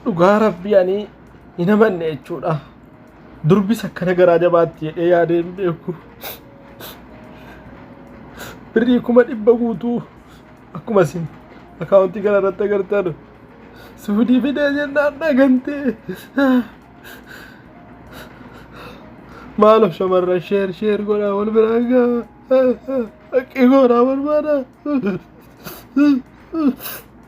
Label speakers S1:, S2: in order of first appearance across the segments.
S1: dhugaa rabbii ani hin amanne jechuudha durbis akkana garaa jabaatti jedhee yaadee hin beeku birrii kuma dhibba guutuu akkuma isin akaawuntii kana irratti agartan suudii fidee jennaan dhagantee maalo shamarran sheer sheer godhaa wal biraa gaa haqqii goonaa barbaada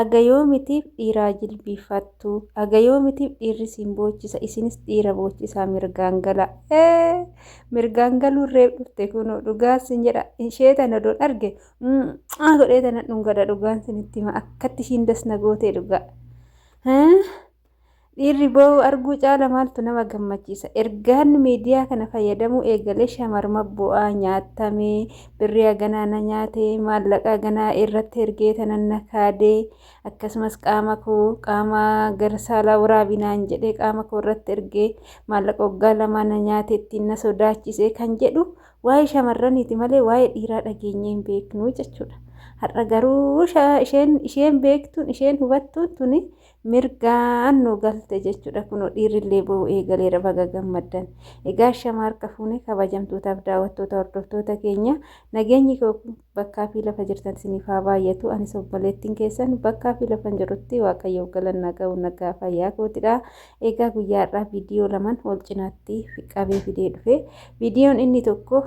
S2: Aga yoomitiif dhiiraa jilbiiffattu? Aga yoomitiif dhiirri isin boochisa? Isinis dhiira boochisaa mirgaan galaa. Ee! Mirgaan galuun reef dhufte kunoo dhugaan sin jedha. Ishee tana odoon arge mucaa godhee tana dhungadha dhugaan sinitti hima akkatti ishiin das na gootee dhugaa. Dhiirri boo'u arguu caala maaltu nama gammachiisa? Ergaan miidiyaa kana fayyadamuu eegalee shamarma bu'aa nyaatamee, birrii haganaa na nyaate, maallaqa haganaa irratti ergee tanan na kaade, akkasumas qaama koo qaama gara saalaa waraabi naan jedhee qaama koo irratti ergee maallaqa waggaa lamaa na nyaate ittiin na sodaachisee kan jedhu waa'ee shamarraniiti malee waa'ee dhiiraa dhageenyee hin beeknu jechuudha. Har'a garuu isheen beektuun isheen hubattuun tuni mirgaan nu galte jechuudha kunoo dhiirrillee ba'uu eegaleera baga gammaddan egaa shama harka fuune kabajamtootaaf daawwattoota hordoftoota keenya nageenyi bakkaa fi lafa jirtan siniif haa baay'atu anis obboleettiin keessan bakkaa fi lafan jirutti waaqayyoof galannaa ga'u nagaa fayyaa kootidha egaa guyyaa har'aa viidiyoo laman ol cinaatti qabee fidee dhufe Viidiyoon inni tokko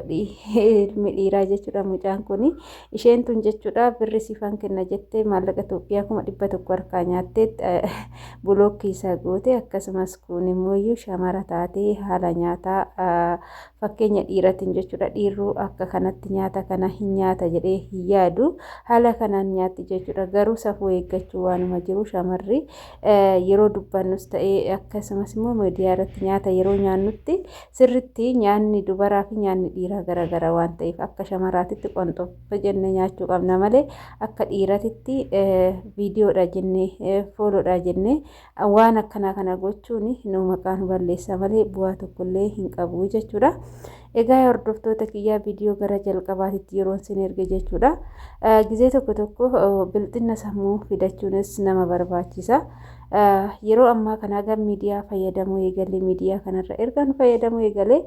S2: ilmi dhiiraa jechuudha mucaan kun isheen tun jechuudha birri siifan kenna jettee maallaqa Itoophiyaa kuma dhibba tokko harkaa nyaattee bulookkii isaa goote akkasumas kun immoo iyyuu shamara taatee haala nyaataa fakkeenya dhiiratiin jechuudha dhiirruu akka kanatti nyaata kana hin nyaata jedhee hin yaadu haala kanaan nyaatti jechuudha garuu safuu eeggachuu waanuma jiru shamarri yeroo dubbannus ta'ee akkasumas immoo miidiyaa irratti nyaata yeroo nyaannutti sirritti nyaanni dubaraa fi nyaanni dhiiraa garaagara waan ta'eef akka shamaraatitti qonxobba jennee nyaachuu qabna malee akka dhiiratitti viidiyoodha jennee fooloodha jennee waan akkanaa kana gochuun nu maqaa nu balleessa malee bu'aa tokkollee hin qabu jechuudha. Egaa hordoftoota kiyyaa viidiyoo gara jalqabaatitti yeroon sin erge jechuudha. Gizee tokko tokko bilxinna sammuu fidachuunis nama barbaachisa. Yeroo ammaa kana gara miidiyaa fayyadamuu eegalee miidiyaa kanarra ergaan fayyadamuu eegalee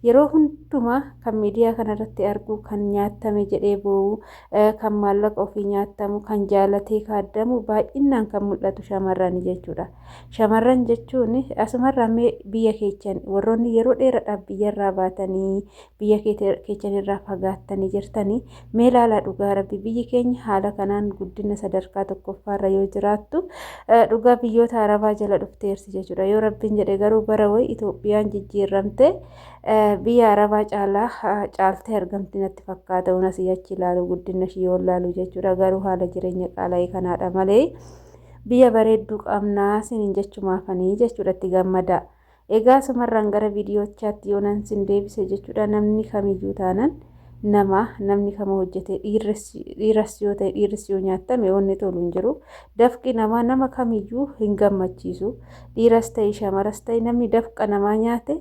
S2: yeroo hundumaa kan miidiyaa kanarratti argu kan nyaatame jedhee boo'u kan maallaqa ofii nyaatamu kan jaalatee kaaddamu baay'inaan kan mul'atu shamarrani jechuudha. Shamarran jechuun asumarraa mee biyya keechan warroonni yeroo dheeradhaaf biyyarraa baatanii biyya keechanirraa fagaattanii jirtanii mee laalaa dhugaa rabbi biyyi keenya haala kanaan guddina sadarkaa tokkoffaarra yoo jiraattu dhugaa biyyoota arabaa jala dhufteerti jechuudha yoo rabbiin jedhe garuu bara wayi Itoophiyaan jijjiirramte biyya arabaa caalaa caaltee argamti natti fakkaata unas achi ilaalu guddina ishii yoo ilaalu jechuudha garuu haala jireenya qaala'ee kanaadha malee. Biyya bareedduu qabnaa sinin jechumaafanii jechuudha itti gammadaa. Egaa asumarraan gara viidiyoochaatti yoonan sin deebise jechuudha namni kamiyyuu taanan nama namni kama hojjetee dhiiras yoo ta'e dhiirris yoo nyaattame wanni tolu hin jiru. Dafqi namaa nama kamiyyuu hin gammachiisu. Dhiiras ta'e shamaras ta'e namni dafqa namaa nyaate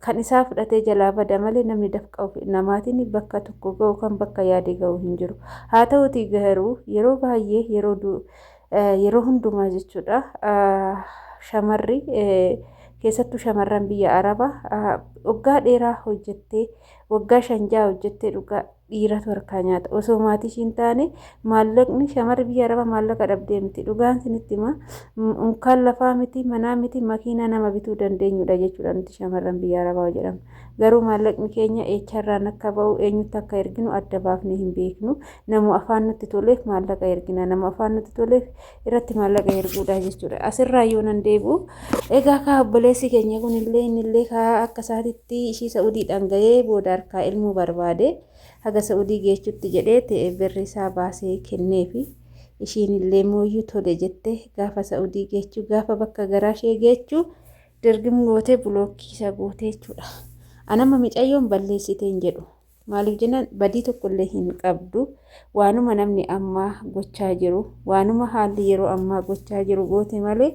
S2: Kan isaa fudhatee jalaa bada malee namni dafqa ofi namaatiin bakka tokko ga'u kan bakka yaade ga'u hin jiru. Haa ta'uutii garuu yeroo baay'ee yeroo du- eh, yeroo hundumaa jechuudha ah, shamarri eh, keessattuu shamarran biyya arabaa ah, waggaa dheeraa hojjettee waggaa shan ja'a hojjettee dhugaa dhiiratu harkaa nyaata osoo maatii ishii hin taane maallaqni shamarri biyya arabaa maallaqa dhabdee miti dhugaan sinitti hima unkaan lafaa miti manaa miti makiinaa nama bituu dandeenyudha jechuudha nuti shamarran biyya arabaa jedhamu garuu maallaqni keenya eecharraan akka ba'u eenyutti akka erginu adda baafnee hin beeknu namu afaan nutti toleef maallaqa ergina namu afaan nutti toleef irratti maallaqa erguudhaa jechuudha. Asirraa yoo nan deebi'u egaa kaa obboleessi keenya kunillee innillee kaa akka isaatitti ishii sa'udiidhaan ga'ee booda harkaa ilmoo barbaade haga sa'udii geechutti jedhee ta'e birri isaa baasee kenneefi ishiinillee mooyyuu tole jettee gaafa sa'udii geechuu gaafa bakka garaa ishee geechuu dirgim gootee bulookkii isa gootee jechuudha. Anamma micayyoon balleessitee hin jedhu. Maaliif jennaan badii tokko illee hin qabdu. Waanuma namni ammaa gochaa jiru, waanuma haalli yeroo ammaa gochaa jiru goote malee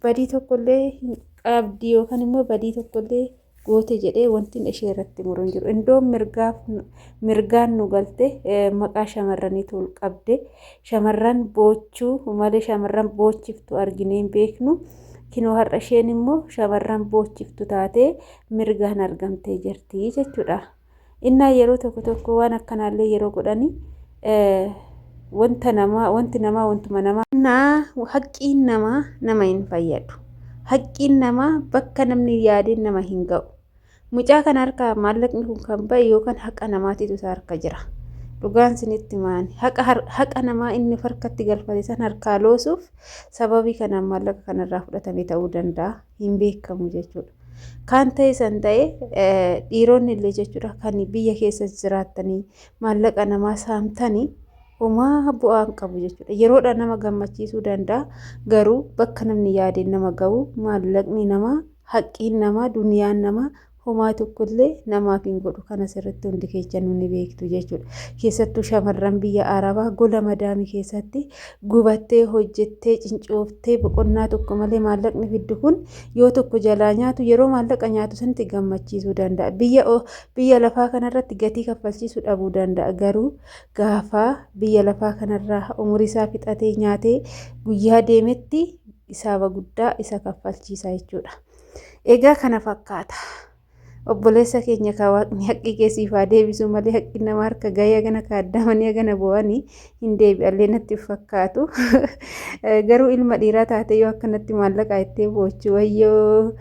S2: badii tokko illee hin qabdi yookaan immoo badii tokko illee goote jedhee wantin ishee irratti muru hin jiru. Indoon mirgaaf mirgaan nu galte maqaa shamarraniitu ol qabde. Shamarran boochuu malee shamarran boochiftu arginee hin beeknu. Kinoo har'a isheen immoo shamarran boochiftu taatee mirgaan argamtee jirti jechuudha. Innaa yeroo tokko tokko waan akkanaallee yeroo godhani wanta namaa wanti namaa wantuma namaa. Innaa haqqiin namaa nama hin fayyadu. Haqqiin namaa bakka namni yaadeen nama hin ga'u. Mucaa kana harkaa maallaqni kun kan ba'e yookaan haqa namaatiitu isaa harka jira. Dhugaan sinitti maani. Haqa namaa inni harkatti galfate san harkaa loosuuf sababii kanaan maallaqa kanarraa fudhatame ta'uu danda'a. hin beekamu jechuudha. Kaan ta'e san ta'e dhiironni illee jechuudha kan biyya keessa jiraattanii maallaqa namaa saamtanii homaa bu'aan qabu jechuudha. Yeroodha nama gammachiisuu danda'a garuu bakka namni yaadeen nama ga'u maallaqni namaa haqqiin namaa duniyaan namaa homaa tokko illee namaaf hin godhu kan asirratti hundi keechanuu ni beektu jechuudha. Keessattuu shamarran biyya Arabaa gola madaamii keessatti gubattee hojjettee cincooftee boqonnaa tokko malee maallaqni fiddu kun yoo tokko jalaa nyaatu yeroo maallaqa nyaatu sanatti gammachiisuu danda'a. Biyya biyya lafaa kanarratti gatii kaffalchiisuu dhabuu danda'a garuu gaafa biyya lafaa kanarraa umurii isaa fixatee nyaatee guyyaa deemetti isaaba guddaa isa kaffalchiisa jechuudha. Egaa kana fakkaata. Obboleessa keenya kaa waaqni haqqii kee siif haa deebisuu malee haqqi nama harka gahee hagana kaaddaamanii hagana boo'anii hin deebi'allee natti hin fakkaatu. Garuu ilma dhiiraa taatee yoo akkanatti maallaqaa ittee boochu wayyoo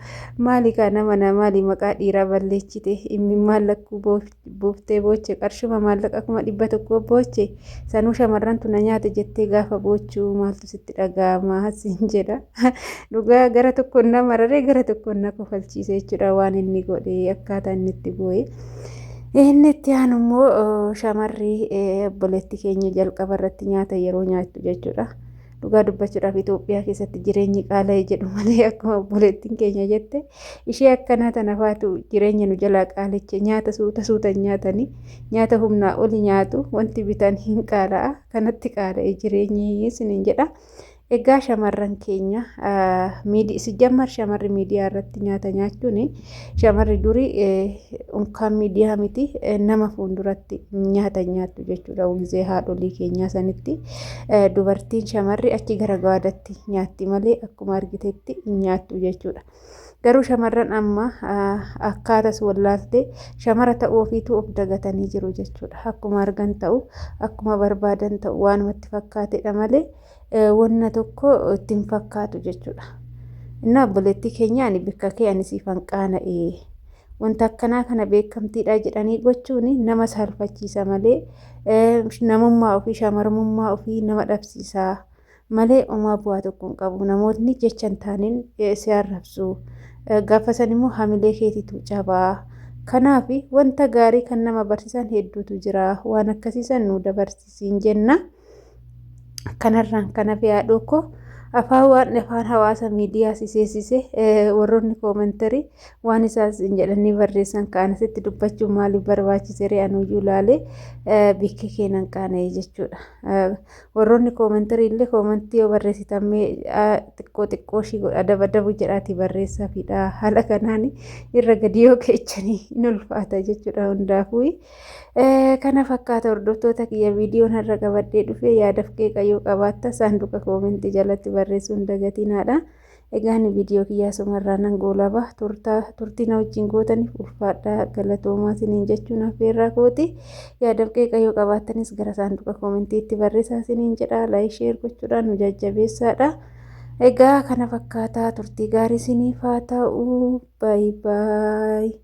S2: maali kaa nama naa maali maqaa dhiiraa balleechite imimmaan lakkuu boofti. buuftee booche qarshuma maallaqa kuma dhibba tokko booche sanuu shamarrantu na nyaate jettee gaafa boochuu maaltu sitti dhaga'ama siin jedha dhugaa gara tokkoon na mararee gara tokkoon na kofalchiise jechuudha waan inni godhe akkaataa inni itti boo'e. Inni itti aanu immoo shamarri obboleetti keenya jalqaba irratti nyaata yeroo nyaattu jechuudha. Dhugaa dubbachuudhaaf Itoophiyaa keessatti jireenyi qaala'e jedhu malee akkuma obboleettiin keenya jette ishee akkanaa tana faatu jireenya nu jalaa qaaliche nyaata suuta suuta nyaatanii nyaata humnaa oli nyaatu wanti bitan hin qaala'a kanatti qaala'e jireenyi isiniin jedha. Egaa shamarran keenya miidi- si jammar shamarri miidiyaa irratti nyaata nyaachuun Shamarri durii unkaan miidiyaa miti nama fuulduratti nyaata nyaattu jechuudha. Gizee haadholii keenyaa sanitti dubartiin shamarri achi gara gaadatti nyaatti malee akkuma argitetti nyaattu jechuudha. Garuu shamarran amma akkaatas wallaaltee shamara ta'uu ofiitu of dagatanii jiru jechuudha. Akkuma argan ta'u akkuma barbaadan ta'u waanumatti fakkaatedha malee. wanna tokko itti hin fakkaatu jechuudha. Innaa obboleettii keenya ani bikka kee ani siif hanqaana'e wanta akkanaa kana beekamtiidha jedhanii gochuun nama saalfachiisa malee namummaa ofii shamarummaa ofii nama dhabsiisa malee omaa bu'aa tokko hin qabu namootni jecha hin taaneen si arrabsu gaafa san immoo hamilee keetitu cabaa kanaaf wanta gaarii kan nama barsiisan hedduutu jira waan akkasiisan nu dabarsisiin jenna. Kanarraan kan hafe haadhoo koo afaan waan afaan hawaasa miidiyaa si seesise warroonni koomentarii waan isaan sin jedhanii barreessan kaan asitti dubbachuun maaliif barbaachisere anuyyuu laalee bikki keenan qaana'e jechuudha. Warroonni koomentarii illee koomentii yoo barreessitan mee xiqqoo xiqqoo ishii godha dabadabu jedhaati barreessaafidha. Haala kanaan irra gadi yoo keechanii hin ulfaata jechuudha hundaafuu. Kana fakkaata hordoftoota kiyya viidiyoon har'a qabadhee dhufee yaadaf qeeqa yoo qabaatta saanduqa koomentii jalatti barreessuun dagatinaadha. Egaan viidiyoo kiyyaa sumarraa nan goolaba turtii na wajjin gootaniif ulfaadhaa galatoomaa siniin jechuun affeerraa kooti. Yaadaf qeeqa yoo qabaattanis gara saanduqa koomentiitti barreessaa siniin jedha laayik sheer gochuudhaan nu jajjabeessaadha. Egaa kana fakkaataa turtii gaarii siniif haa ta'u. Baay'ee baay'ee.